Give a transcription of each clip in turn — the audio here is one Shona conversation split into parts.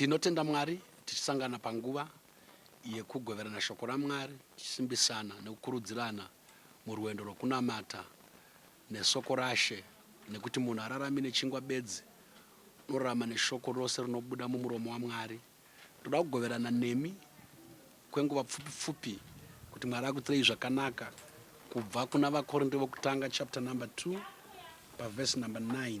Tinotenda Mwari tichisangana panguva yekugoverana shoko raMwari tichisimbisana nekukurudzirana murwendo rwekunamata nesoko raShe nekuti munhu ararami nechingwa bedzi unorarama neshoko rose rinobuda mumuromo waMwari. Ndoda kugoverana nemi kwenguva pfupi pfupi kuti Mwari akutirei zvakanaka kubva kuna vaKorinde vokutanga chapter number 2 pavhesi number 9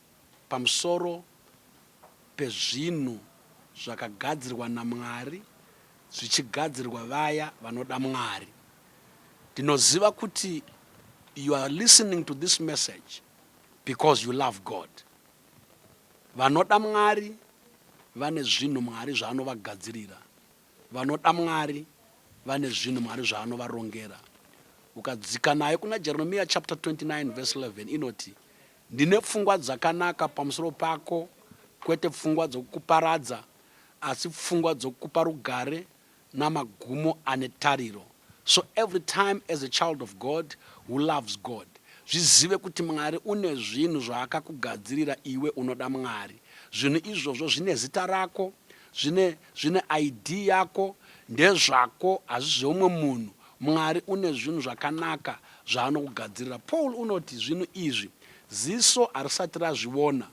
pamusoro pezvinhu zvakagadzirwa naMwari zvichigadzirwa vaya vanoda Mwari. Ndinoziva kuti you are listening to this message because you love God. Vanoda Mwari vane zvinhu Mwari zvaanovagadzirira. Vanoda Mwari vane zvinhu Mwari zvaanovarongera. Ukadzika nayo kuna Jeremiya chapter 29 verse 11 inoti Ndine pfungwa dzakanaka pamusoro pako, kwete pfungwa dzokukuparadza, asi pfungwa dzokukupa rugare namagumo ane tariro. So every time as a child of God who loves God, zvizive kuti Mwari une zvinhu zvaakakugadzirira iwe unoda Mwari. Zvinhu izvozvo zvine zita rako, zvine, zvine ID yako, ndezvako, hazvisi zveumwe munhu. Mwari une zvinhu zvakanaka zvaanokugadzirira. Paul unoti zvinhu izvi ziso harisati razviona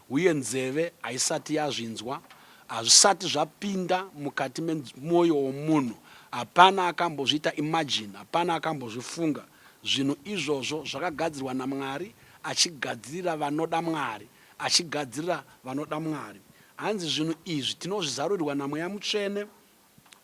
uye nzeve haisati yazvinzwa, hazvisati zvapinda mukati memwoyo womunhu, hapana akambozviita imagine, hapana akambozvifunga. Zvinhu izvozvo zvakagadzirwa naMwari, achigadzirira vanoda Mwari, achigadzirira vanoda Mwari. Hanzi zvinhu izvi tinozvizarurirwa naMweya Mutsvene.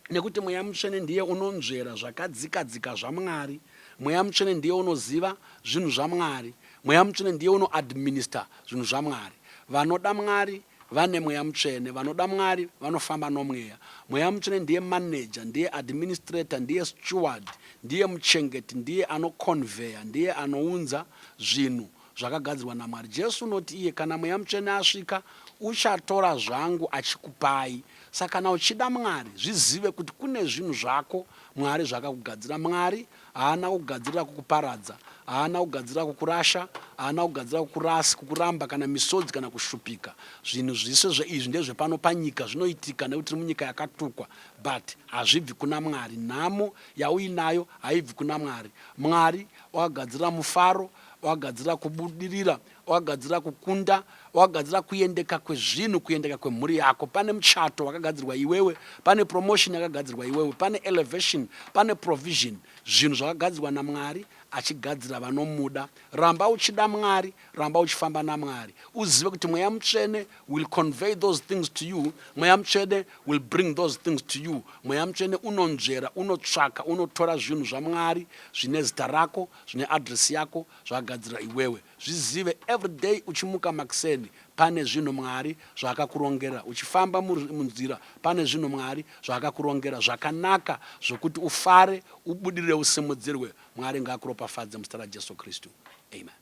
Nekuti Mweya Mutsvene ndiye unonzvera zvakadzika dzika zvaMwari. Mweya Mutsvene ndiye unoziva zvinhu zvaMwari. Mweya Mutsvene ndiye uno administer zvinhu zvaMwari. Vanoda Mwari vane Mweya Mutsvene. Vanoda Mwari vanofamba noMweya. Mweya Mutsvene ndiye manager, ndiye administrator, ndiye steward, ndiye muchengeti, ndiye ano conveyer, ndiye anounza zvinhu zvakagadzirwa naMwari. Jesu unoti iye, Kana Mweya Mutsvene asvika, uchatora zvangu achikupai. Saka kana uchida Mwari, zvizive kuti kune zvinhu zvako Mwari zvaakakugadzira. Mwari haana kugadzirira kukuparadza, haana kugadzirira kukurasha, haana kugadzirira kukurasi, kukuramba, kana misodzi, kana kushupika. Zvinhu zvise zveizvi ndezvepano panyika, zvinoitika nekuti tiri munyika yakatukwa, but hazvibvi kuna Mwari. Nhamo yauinayo haibvi kuna Mwari. Mwari wakagadzirira mufaro, wakagadzirira kubudirira wakagadzirira kukunda wakagadzirira kuendeka kwezvinhu kuendeka kwemhuri yako pane muchato wakagadzirwa iwewe pane promotion yakagadzirwa iwewe pane elevation pane provision zvinhu zvakagadzirwa namwari achigadzira vanomuda ramba uchida mwari ramba uchifamba namwari uzive kuti mweya mutsvene will convey those things to you mweya mutsvene will bring those things to you mweya mutsvene unonzvera unotsvaka unotora zvinhu zvamwari zvine zita rako zvine address yako zvagadzira iwewe zvizive everyday uchimuka makseni pane zvinhu mwari zvaakakurongera uchifamba munzira pane zvinhu mwari zvaakakurongera zvakanaka zvokuti ufare ubudirire usimudzirwe mwari ngaakuropafadze muzita rajesu kristu amen